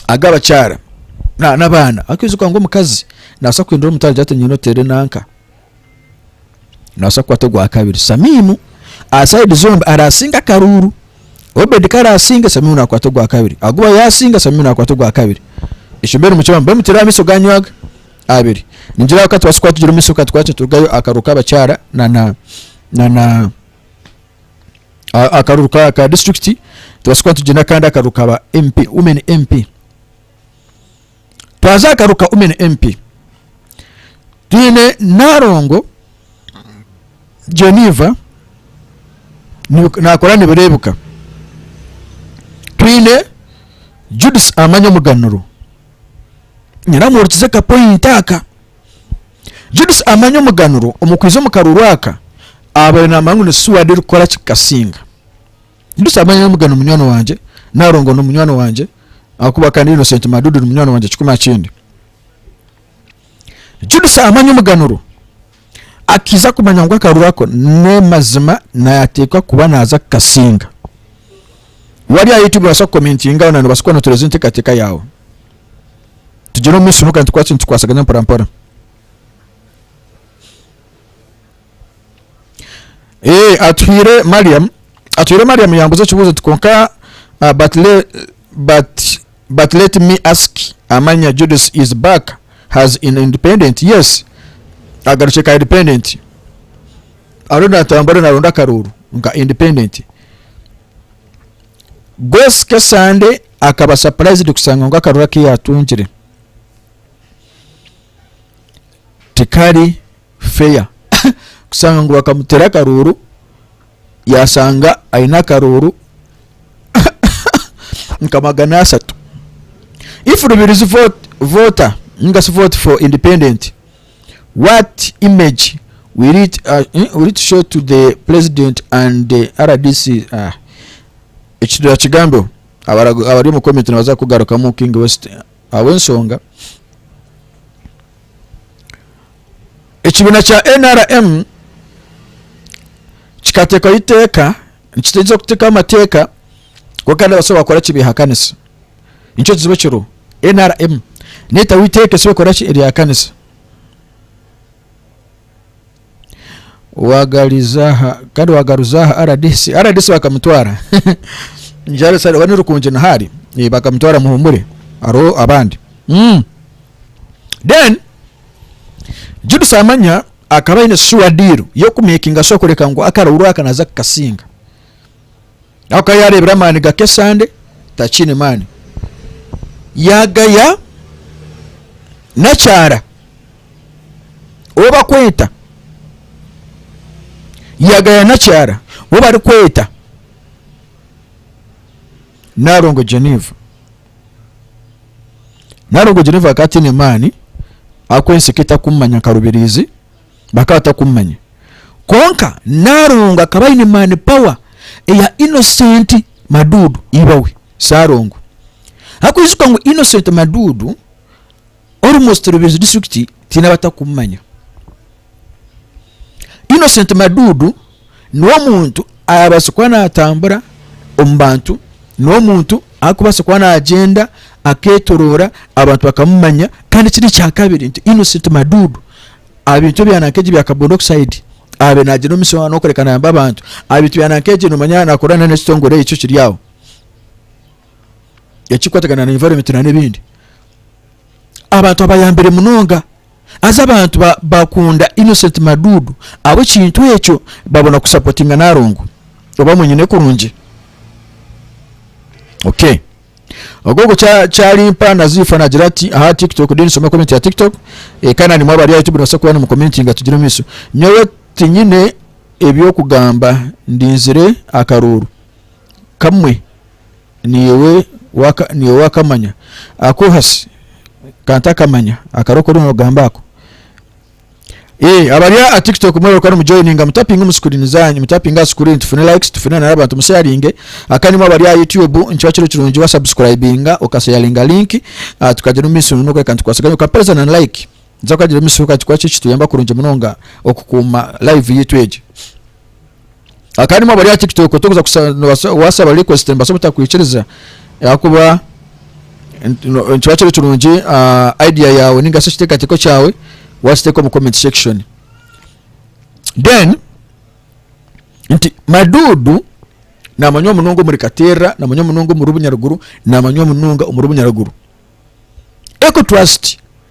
ag'abakyara na- n'abaana. Arikwijuka ngu omukazi nabaasa kuhindura omutwe agira ati nyowe noteera enanka. Nobaasa kukwata ogwa kabiri. Samimu aha sayidi zombi araasinge akaruuru. Obedi ku araasinge, Samimu naakwata ogwa kabiri. Aguba yaasinga, Samimu naakwata ogwa kabiri. Ekyo mbwenu mukibona, mbwenu mutireho amaisho gaanyu aga abiri. Ningira aha ka tubaasa kuba tugire omu maisho ka tukwate turugayo aha karuuru k'abakyara na na na na aha aha karuuru ka ka disiturikiti, tubaase kuba tugire n'akandi akaruuru ka ba MP, Women MP. twazagaruka umen MP twine narongo Geneva nakora nibirebuka twine Judith amanya omuganuro nyiramuhurikize kapoint aka Judith amanya omuganuro omukwiza omukaruru aka abaire namanya ngu ni suwadi erikukora kikasinga Busa manya Muga ni munywani wangye, Narongo ni munywani wangye ahakuba kandi Innocent Madudu ni munywani wangye kikumi aha kindi. Judith amanya omuganuro akiza kumanya ngu akaruru ako n'emazima nayateekwa kuba naaza kukasinga. Wari ahi tibaasa kukomentingaho na nobaasa kuba notereeza enteekateeka yaawe. Tugire omu maisho n'okugira nti kwaki nitukwatsagana mporampora. Eeh Atuhire Mariam Atuhire Mariam yambuza ekibuzo oti konka ah, but le but but let me ask amanya Judith is back has in independent yes agarukye ka independent ariyo natambura naronda akarooro nka independent Grace Kesande akaba surprised kusanga ngu akarooro aku yatungire tikari fair kushanga ngu bakamuteera akarooro yashanga aine akarooro nka magana ashatu if rubirizi vote voter ninga shi vote for independent what image will it, uh, eh, will it show to the president and the rdc ah. ekidura kigambeho abara- abari omu comment nibaza kugarukamu king west ahabw'ensonga Ekibiina kya nrm kikateekaho eiteeka nikitegyesa okuteekaho amateeka kwonka kandi abasaho bakora ki beehakanisa nikyo kizibu ekiriho nrm neetaho eiteeka esibe kukora ki eryehakanisa waagariza aha kandi waagaruza aha rdc rdc bakamutwara Njare sare oba ni Rukungi Nihari Eh, bakamutwara muhumure hariho abandi Mm. then Judith amanya akaba aine sure deal yokumakinga sure kureka ngu akarooro aka naza kukasinga ahakuba yarebire amaani gake esande takiine maani yagaya nakyara ou bakweta yagaya nakyara ou barikweta Narongo Geneva Nari ogwo Geneva akaba ataine maani ahakuba ensi ekaba etakumumanya nka Rubirizi, bakaba batakumumanya. Kwonka Naalongo akaba aine maani, power, eya Innocent Madudu ibawe, Saalongo. Ahakuba ijuka ngu Innocent Madudu, Almost Rubirizi district tiine abatakumumanya. Innocent Madudu niwe omuntu arabaasa kuba natambura omu bantu, niwe omuntu arikubaasa kuba nagyenda aketoroora abantu bakamumanya kandi ekindi ekyakabiri nti Innocent Madudu abintu ebya nanka ebya carbon oxide abe nagyenda omu mishohano kureka nayamba abantu abintu bya nanka nomanya nakorana n'ekitongore ekyo kiri aho. ekikwatagana na environment na n'ebindi abantu abayambire munonga azi abantu ba- bakunda innocent madudu abo ekintu ekyo babona kusapotinga narongo oba mwenyine kurungi okay ogogo kya- kyalimpa na zifa nagira ati aha tiktok de nisoma comment ya tiktok eh, kandi nanimwe abari ahaitu binobaasa kuba nimukomentinga tugire omumiso nyowe tinyine ebyokugamba ndinzire akaruuru kamwe niiwe waka niiwe wakamanya akohasi kantakamanya akari okori nogamba ako Eh, abari aha tiktok mwebale kuba nimujoininga mutapinga omu screen zanyu mutapinga aha screen tufune likes tufune nana abantu musharinge akanimwe abari aha youtube nikiba kiri kirungi wa subscribinga okasharinga link ah, tukagira omu maisho nono reka ntukwase ganye okapereza na like nza kukagira omu maisho kati kuba kiri kituyamba kurungi munonga okukuuma live yitu egi akanyima bari aha tiktok tokuza kushaba wasaba request nibasa obutakwikiriza ahakuba nikiba kiri kirungi ah, idea yawe ninga shi ekiteekateeko kyawe wakiteeka omu comment section then nti madudu namanywa munonga omuri katerra namanywa munonga omuri bunyaruguru namanywa munonga omuri bunyaruguru eco trust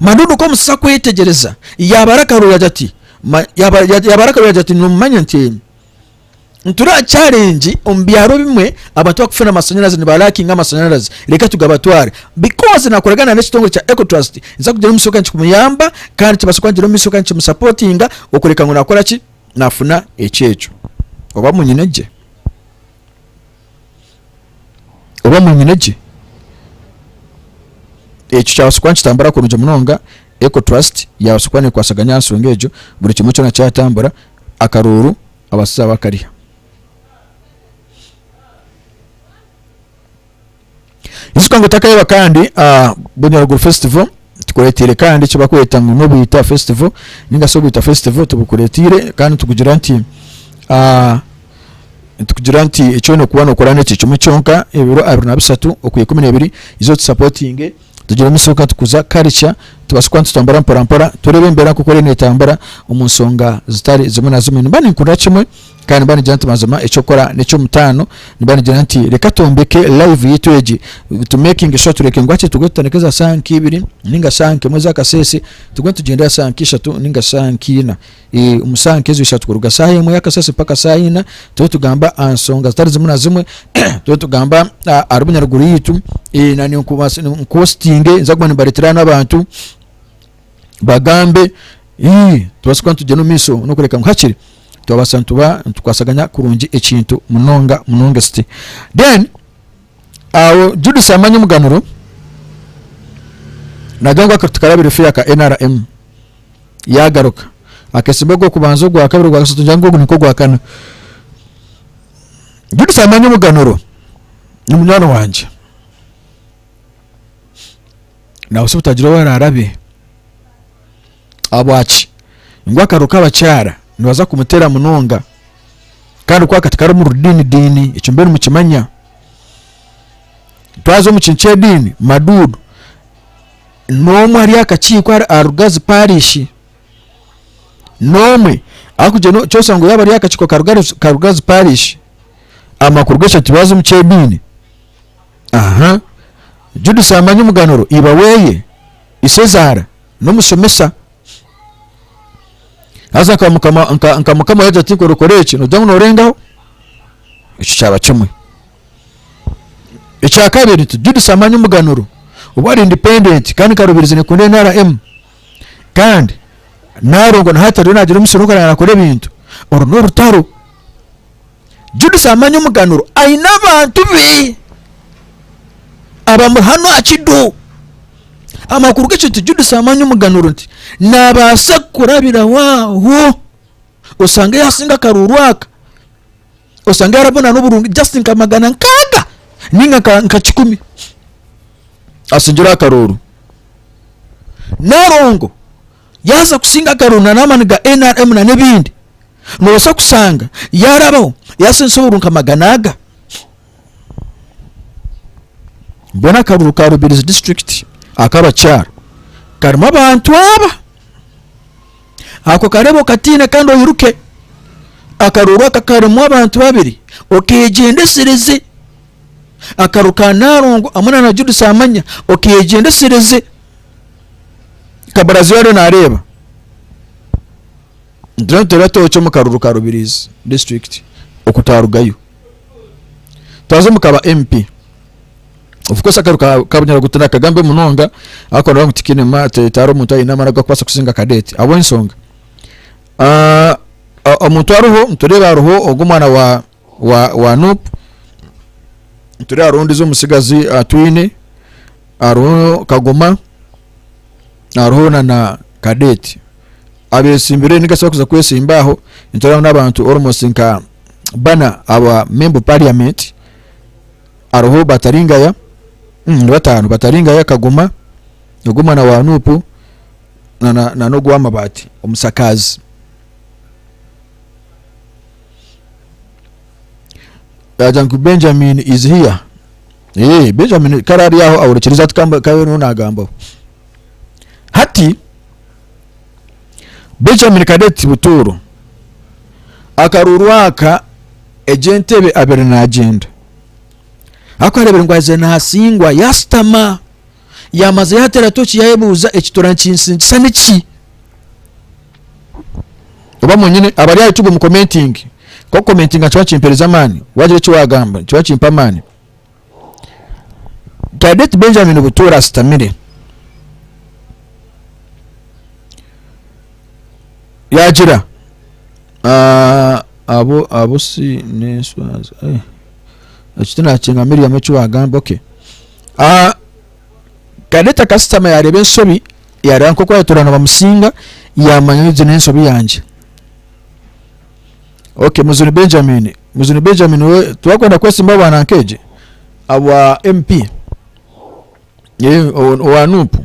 Manunu ku omusasi akwetegyereza, yaabara akaruuragi ati, yaabara akaruuragi ati, Noomanya nti nituraakyarengi omu byaro bimwe abantu bakufuna amashanyarazi nibalaakinga amashanyarazi reka tugabatware bikoozi naakoragana n'ekitongore kya Ecotrust nza kugira omu maisho kandi kikumuyamba kandi kibaasa kuba nikigira omu maisho kandi nikimusapootinga okureka ngu naakora ki naafuna ekyeejo oba munyine gye oba mwanyina gye. Ekyo kyabaasa kuba nikitambura kurungi munonga, Eco Trust yaabaasa kuba neekwasaganya aha nsonga egyo, buri kimwe kyona kyatambura, akaruuru abashaija bakariha. Ijuka ngu otakaheba kandi Bunyaruguru Festival tikureteire kandi eki bakweta ngu n'obwita festival ninga shi obwita festival tibukureteire kandi nitukugira nti nitukugira nti eki oyine kuba nokora n'eki kimwe kyonka ebiro abiri na bishatu okuha ikumi n'ebiri iza otusapotinge tugire omu maisho katukuza karica tubaase kuba nitutambura mpora mpora turebe embeera nk'oku eriyo netambura omu nshonga zitari zimwe na zimwe nimba ninkurira kimwe Kandi nibanigira nti mazima ekyokukora nekyomutaano nibanigira nti reka twombeke live yaitu egi to making sure tureke ngu hati tugwe tutandike za saha nka ibiri ninga saha nka emwe zakasese tugwe nitugyenda ya saha nka ishatu ninga saha nka ina omu saha nka ezo ishatu kuruga saha emwe yakasese paka saha ina tube tugamba aha nsonga zitari zimwe na zimwe tube tugamba aha rubunyaruguru yaitu nani nkuhostinge nza kuba nimbaretera hanu abantu bagambe tubaase kuba nitugyera omu maisho n'okureka ngu hakiri twabaasa nituba nitukwasaganya kurungi ekintu munonga munonga esiti then awo judisi yamanya omuganuro nagira ngu akati karabire feya ka nrm yagaruka akesimba ogwokubanza ogwakabiri ogwakasatu ngira ngu ogu nikwo gwakana judisi amanya omuganuro ni munywani wangye nawe se obutagira owu araarabe ahabwaki ngu akaro k'abakyara nibaza kumuteera munonga kandi kwaka tikari omu rudiinidiini ekyo mbiire nimukimanya twaza omu kintu ky'ediini maduudu n'omwe ahari akakiiko ahari- aha rugazi paarishi n'omwe arikugira ngu nikyo oshanga yaaba ari ahari akakiiko ka Rugazi- ka rugazi paarishi amakuru g'eshagama tibaaza omu ky'ediini Aha. Judith amanya omuganuro iba weye, isezaara, n'omushomesa. Haza nka mukama nka, nka mukama yagira ati nkora okora eki, nogira ngu norengaho. Ekyo kyaba kimwe. Ekya kabiri nti Judith amanya omuganuro obu ari independent kandi nkarubirizi nekunda NRM kandi narongo na hati ariyo nagira omusiri ogu araba nakora ebintu. Oru n'orutaro. Judith amanya omuganuro aine abantu be abamuri hanu aha kidu amakuru g'ekyo nti Judith amanya omuganuro nti naabaasa kurabiraho aho osanga yaasinga akaruuru aka osanga yarabona n'oburungi just nka magana nkaaga ninga nka nka kikumi asingire akaruuru narongo yaaza kusinga agaruro na n'amaani ga nrm na n'ebindi, noobaasa kushanga yaarabaho yaasindisa obururu nka magana aga. Mbwenu akaruru ka Rubirizi District ak'abakyara karimu abantu aba. Ako kareebe okatiine kandi oiruke. Akaruru aka karimu abantu babiri okeegyendesereze. Akaruru ka Naalongo hamwe na na Judith Amanya okeegyendesereze. Kaburaziho ariyo nareeba nituba nituteera tooki omu karuru ka Rubirizi district oku twarugayo twaza omu kaba MP of course akaru ka Kabunyaruguru tinakagambe munonga ariko nabo tikiine ma ti- tihariho omuntu aine amaani agakubaasa kusinga Cadet ahabw'ensonga ah, ah, omuntu ariho nitureeba hariho ogu omwana wa wa wa nup turi hariho ondijo omutsigazi ah, twine hariho kagoma hariho na na kadeti abesimbire nigasi bakuza kwesimba aho niturabaho n'abantu almost nka bana aba member of parliament hariho bataringaya mm, ni batano bataringaya kagoma ogu omwana wa nupu na na na n'ogw'amabaati omusakaazi Yagira ngu Benjamin is here. Eh, Benjamin kare ari aho ahurikiriza ati kamba kabe niho nagambaho. Hati Benjamin Cadet Butuuro akaruuru aka egy'entebe abere nagyenda. Ariko arebire ngu aze nasingwa yasitama. Yaamaza yaateera tooki yaayebuuza eki turankinsingisa niki? Oba mwenyine abari aha YouTube mukomentinge. Nk'okukomentinga nikiba nikimpeereza amaani. Waagira eki waagamba nikiba nikimpa amaani. Cadet Benjamin Butuura ashutamire. Yaagira, ah, abo abo si n'enswazi. Eh. ekyo tinakyenga Miriamu eki wagamba okay ah, Kaneta kasitama yareba ensobi yareba nkoku ayetorana bamusinga yamanya egi nensobi yangye okay muzuni Benjamin muzuni Benjamin we tiwakwenda kwesimba bwana nkegye abwa MP eh, owa nupu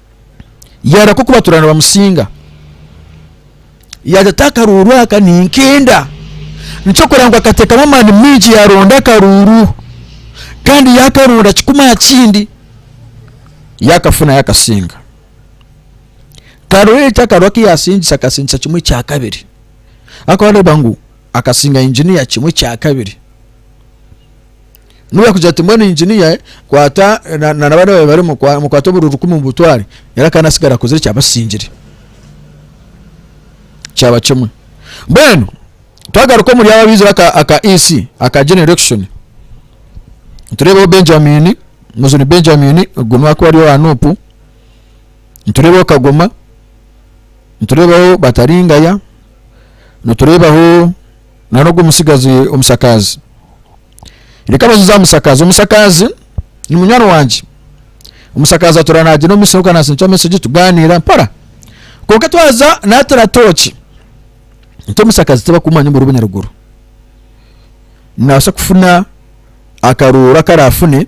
yaareka okubatura nibamusinga yaaza ati akaruuru aka ninkenda nikyokora ngu akateekamu amaani maingi yaaronda akaruuru kandi yaakaronda kikuma aha kindi yaakafuna yaakasinga karoori eki akaruuru aku yaasingisa akasingisa kimwe ekya kabiri arikuba naareeba ngu akasinga inginiya kimwe ekya kabiri Nobu yakugira ati mbwenu engineer kwata na na bana bawe barimu kwa- mukwate oburi rukumi mubutware yari akana asigara akozire ekyaba kikingire kyaba kimwe mbwenu twagaruka omuri abo abaizire aka aka EC aka general election niturebaho Benjamin muzuni Benjamin ogu nuwe arikuba ari owa nup niturebaho kagoma niturebaho bataringaya niturebaho na n'ogwo mutsigazi omusakaazi. Reka bazize aha musakaazi. Omusakaazi ni munywani wangye. Omusakaazi atura naagye n'omumisiri ogu kanaasinikya mesegi tugaaniira mpora. Kwonka twaza naatira tooki. Nti omusakaazi tibakumanya omuri Bunyaruguru. Naabaasa kufuna akaruuru akaraafune.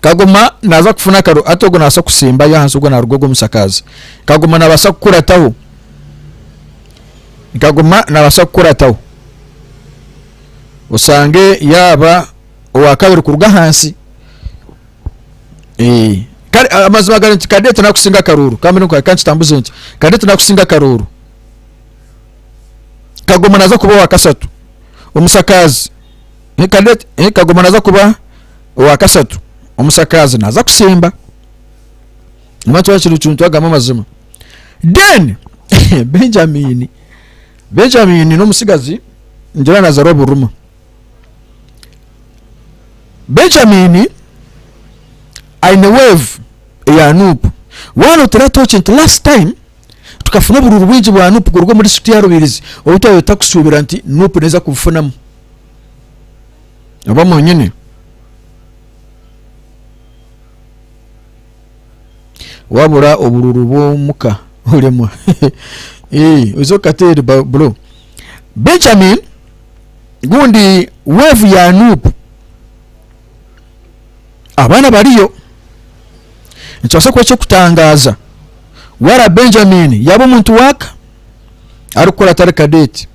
Kagoma naaza kufuna akaru, hati ogwo nabaasa kusimbayo ahansi ogwo naaruga ogwo mushakaazi. Kagoma nabaasa kukurataho, kagoma nabaasa kukurataho osange yaaba owakabiri kuruga ahansi. Eh, kare a- amazima gari nti kadete nakusinga akaruuru kambe niko kankitambuze nti kadete nakusinga akaruuru. Kagoma naaza kuba owa kasatu omushakaazi. Ni Cadet eh, Kagoma naza kuba owa kasatu omusakaazi naza kusimba Nima nikyo kiri cuntu agamu amazima Then Benjamin Benjamin n'omutsigazi ngira nazarwa Buruma Benjamin aine wave eya Nup waanotera tooki nti last time Tukafuna oburuuru bwingi bwa Nup kuruga omuri City ya Rubirizi obu twabire tutakushuubira nti Nup neeza kubufunamu. Oba mwanyine. Waabura oburuuru bw'omuka oremwa. Eeh, oze okateere ba- bro. Benjamin gundi weevu ya Nup. Abaana bariyo. Nikibaasa kuba eky'okutangaaza waaba Benjamin yaaba omuntu waaka arikukora atari kadeeti.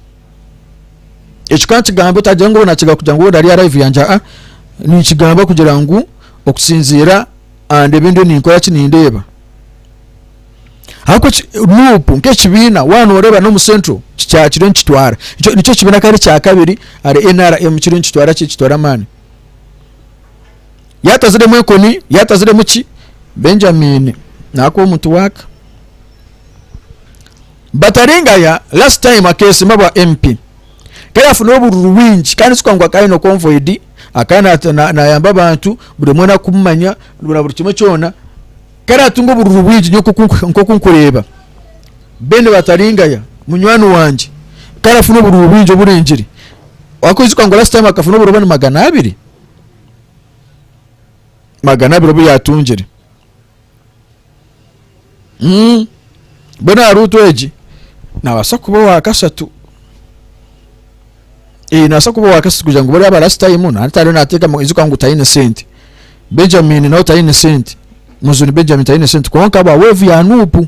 Ekyo ka nkigambe otaagira ngu naakiga kugira ngu ari aha raivu yangye aa, ninkigamba kugira ngu okusinziira aha ndeeba endiyo ninkora ki nindeeba. Ahakuba nuuku nk'ekibiina waaba nooreeba n'omu Central kiriyo nikitwara, nikyo nikyo kibiina kandi kya kabiri ahari nrm kiriyo nikitwara ki, nikitwara amaani. yaataziremu enkoni yaataziremu ki benjamini naakwa omuntu waaka bataringaya last time akeesima bwa mp ku yaafuna obururu bwingi kandi kikaba ngu akaba aine convoid akaba naata- na- naayamba abantu buri omwe nakumumanya na buri kimwe kyona ku araatunga obururu bwingi nyowe nk'oku- nk'oku nkureeba bene bataringaya munywani wangye ku arafuna obururu bwingi oburingire Wakwijuka ngu last time akafuna oburobani magana abiri magana abiri obu yatungire mm. mbwenu aha ruutu egi nabaasa kuba owa kashatu eh, nabaasa kuba owa kashatu kugira ngu bariya ba last time natariyo nateekamu ijuka ngu taine sente benjamin nawe taine sente muzuni benjamin taine sente kwonka ba weevu ya nuupu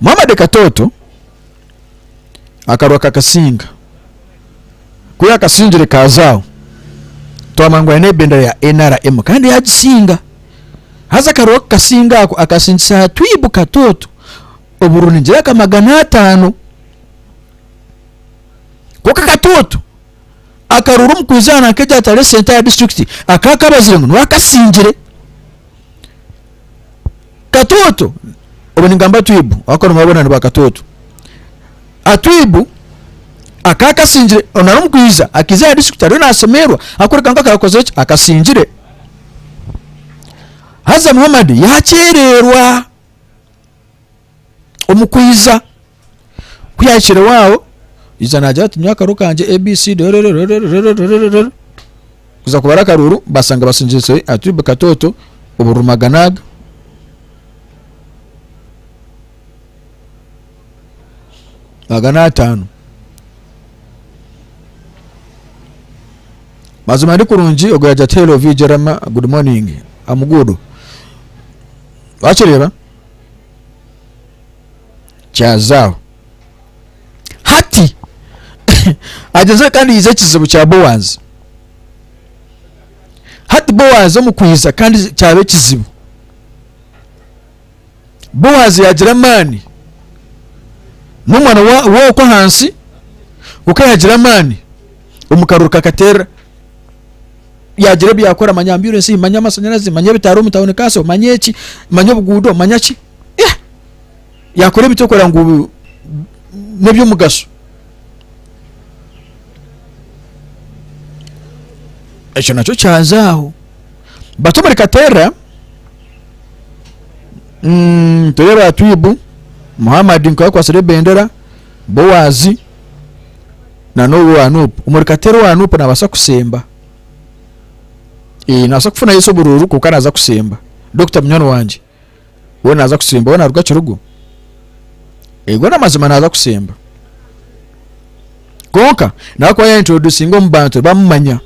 Muhamadi Katooto akarwa kakasinga ku yaakasingire kaaza aho twamanya ngu aine ebendera ya NRM kandi yaagisinga haza akarwa kukasinga ako akasingisa aha Twibu Katooto obururu nigira nka magana ataano kwonka Katooto akarura omu kwijaana nk'egyatwara esente ya disiturikiti akaakabazire ngu niwe akasingire Katoto obu ningamba Twibu ahakuba nimwe boona ni ba Katoto. Atwibu akaba akasingire onu arimu kwija akaiza aha disiturikiti ariyo naasemererwa ahakureka ngu akaba akozire ki akasingire. Haza Muhammad yaakyererwa omu kwija. Ku yaahikireho aho yaija naagira ati nyowe akaru kangye abcd orororororororororororo kuza kubara akaruuru basanga basingiritse aha tube katooto obururumagana aga aga n'ataano mazima ndi kurungi ogwo yaagira ati hello vg rama good morning am good wakireeba kyazaaho. Hati, hagyezire kandi haija ekizibu kya Boazi. Hati Boazi omu kwija kandi kyaba ekizibu. Boazi yaagira amaani. N'omwana wa- w'oku ahansi, kwonka yaagira amaani omu karuru kakateerera. Yaagira ebi yaakora, manya mbyure ensi, manya amashanyarazi, manya ebitaara omu tauni kanso, manya eki, manya obuguudo, manya ki. yeah! yakora ebi tokora ngu bu- n'eby'omugasho ekyo nakyo kyaza aho bato omuri katerra mm, tere ba twibu muhammad nkakwatsire ebendera bowazi na n'owo wa nupu omuri katerra owa nupu nabaasa kusemba Eh, nabaasa kufuna yesu obururu kwonka naza kusemba dokita munywani wangye we naaza kusimba we naaruga kirugu ego n'amazima naaza kusimba kwonka nawe kuba yaintroducinga omu bantu bamumanya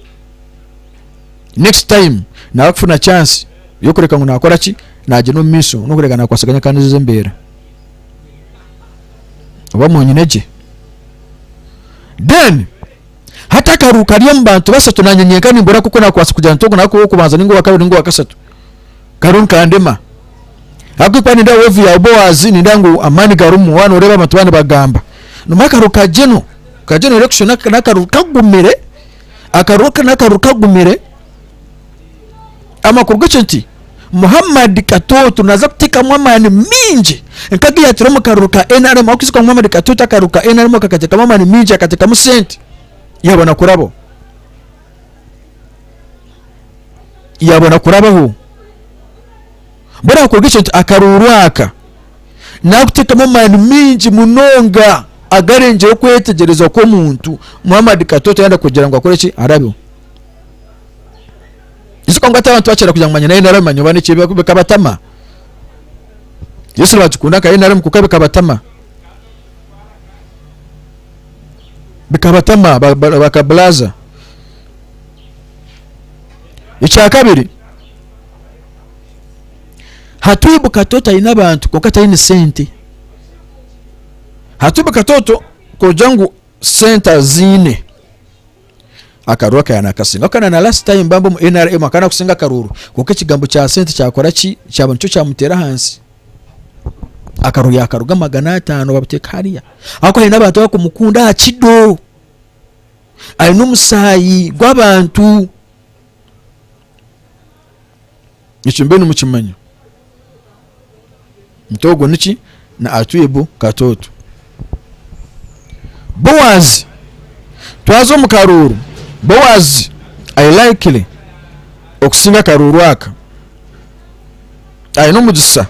next time nawe kufuna chance y'okureka ngu naakora ki naagenda omu maisho n'okureka naakwatsaganya kandi ezo embeera oba mwanyine gye then Hati akaru kari omu bantu basatu nanye nyenka nimbura nk'oku nakubaasa kugira nti ogu nawe kuba ow'okubanza ninga owakabiri ninga owakasatu. Karu nikandema. Ahabw'okuba nindeeba weevu ya Boazi nindeeba ngu amaani garimu waaba nooreeba abantu baaba nibagamba. Nomba akaru kagye no kagye noreeba kushusha n'akaru kagumire, akaru aka n'akaru kagumire. amakuru gakyo nti Muhammad Katoto naza kutekamu amani mingi nkaga yatire omu karuru ka NRM akuzikorwa Muhammad Katoto akaruru ka NRM kakatekamu amani mingi akatekamu sente yabona kurabo yabona kurabaho bora amakuru gakyo nti akaruru aka nakutekamu amani mingi munonga agarengire okwetegyereza kw'omuntu Muhammad Katoto yanda kugira ngu akore ki arabeho Yesu kwangwa ati abantu bakira kugira ngu manya naye nari manya oba niki bika- bikabatama Yesu nibagikunda nka nari mukuka bikabatama bikabatama ba- ba- bakabulaza ekyakabiri hatubu katoto aine abantu kwonka taine sente hatubu katoto kugira ngu sente aziine Akaruru aka yanakasinga ako kana na last time mbambi omu nrm aka nakusinga akaruru kwonka ekigambo kya sente kyakora ki kyaba nikyo kyamutera ahansi akaruru yakaruga magana atano babuteka hariya ahakuba ayine abantu abakumukunda aha kido ayine omusayi gwabantu Ekyo mube nimukimanya. Nti ogwo niki na Atwibu katoto. Bowazi twaza omu karuuru Bowazi ari likely okusinga akaruuru aka. Ari n'omugisa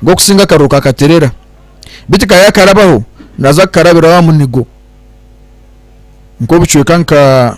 gw'okusinga akaruuru ka Katerera. Beitu ka yakarabaho naza kukarabiraho aha munigo nk'obucweka nka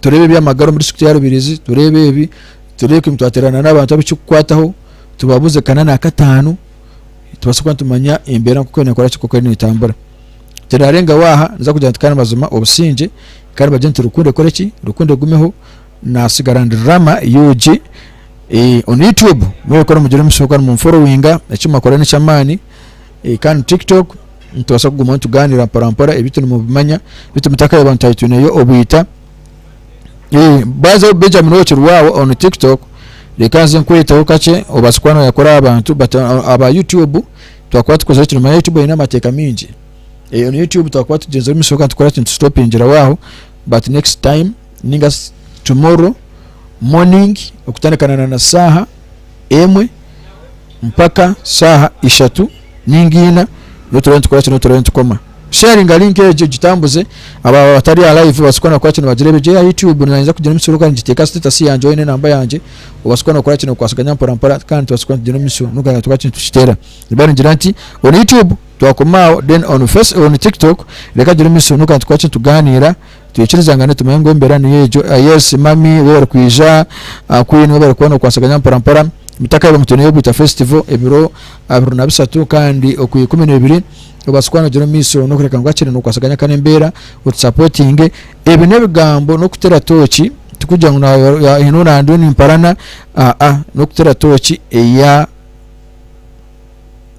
tureeba eby'amagara omuri disitulikiti ya Rubirizi, tureeba ebi, tureeba twateerana n'abantu abikikukwataho tubabuuze kana naakataano tubaase kuba nitumanya embeera nk'oku neekora ki nk'oku eriyo neetambura tirarengaho aha niza kugira nti kandi mazima obusingye kandi bagire nti rukundo ekore ki rukundo egumeho naatsigara ndi rama yugi eh, on youtube mwebikora mugire omushooka nimunforowinga eki mwakora n'eky'amaani Kandi tiktok nitubaasa kugumaho nitugaanira mporampora ebi turi nimubimanya bitu mutakayeba ngu twari twineyo obwita baaza Benjamin okiri waawe on tiktok reka nze nkweteho kakye obaase kuba noyakora aha bantu but uh, aba youtube twakuba tukozire kino manya youtube eine amateeka mingi eyo ni youtube twakuba tugyenzire omu mishoka tukora kintu tutopingira waaho but next time ninga tomorrow morning okutandikana na saaha emwe mpaka shaaha ishatu ninga ina noturore nitukoraki noturore nitukoma sharinga link egyo gitambuze abo abatari a live obasikwa nokora kino bagirebe gye ya youtube nanyija kugira emisuru kandi ngiteeka status yangye oyine enamba yangye obasikwa nokora kino kwasaganya mpora mpora kandi tubasikwa nitugire emisuru nogana tukora kino tukitera niba ningira nti on youtube twakoma awo then on face on tiktok reka gire emisuru nogana tukora kino tuganira Twikiriza ngu nitumanya ngu embeera niyo egyo. Yes mummy we barikwija, Queen we barikuba nokwasaganya mporampora. Mutakaiba ngu twineyo Bwita Festival ebiro abiri na bisatu kandi okwa ikumi na ibiri obaase kuba nogira omumaiso nokureka ngu hakiri nokwasaganya kandi embeera otusapotinge. Ebyo nebigambo nokutera tooki tikugira ngu haine ou nandiyo nimparana aa nokutera tooki eya.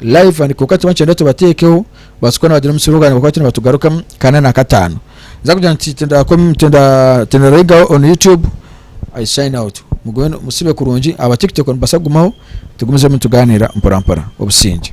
live and kwonka tiba nikigyenda tubateekeho baasi kukora nibagira omu kiro kandi bakuba nibatugarukamu kana na kataano nza kugira nti tindakome tinda- tindarayigaho on youtube i sign out mugume nu- musibe kurungi aba tiktok nibasa kugumaho tugumizemu nitugaaniira mporampora obusingye